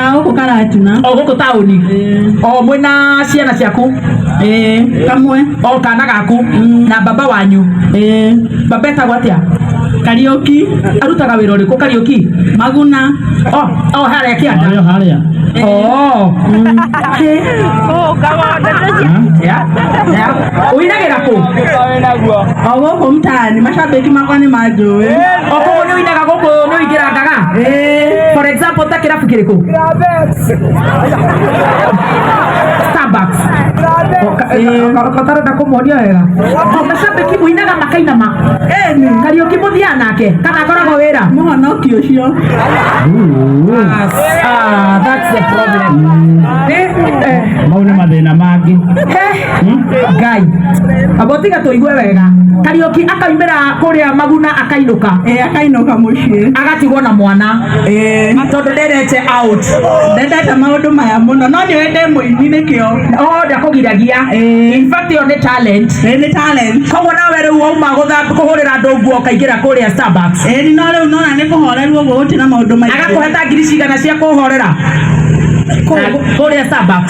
Huko karatuna. o gũkũ taũni o mwe na ciana ciaku Eh, kamwe. o kana gaku na baba wanyu Eh, baba etagwo atĩa Kariuki. arutaga wĩra ũrĩkũ kariũki Maguna. o o harĩa kĩanda Haria haria. o Ya, ya. ũinagĩra kũ O gũkũ mtaani. Mashabiki makwa nĩ manjũĩ. o kũguo nĩ ũinaga gũkũ nĩ ũingĩra Eh. for example ta kirabu kiriko starbucks katarenda kumuonia wega mashabiki muinaga makainama kariuki muthia nake kana akoragwo wira mwanaki ucio Ah, that's the problem. Eh, eh. mau nĩ mathĩna mangĩ Eh. ngai abo tiga tuigue wega kariuki akaimira kuria maguna akainuka eh akainuka mucii agatigwo na mwana eh tondu nderete out ndendete maundu maya muno no ni wende muini nikio o ndakugiragia eh. in fact yo ni talent eh ni talent koguo nawe riu wauma kuhurira andu nguo ukaingira kuria starbucks eh ni no riu nona ni kuhoreru uguo gutira maundu maingĩ agakuheta ngiri cigana cia kuhorera kuria starbucks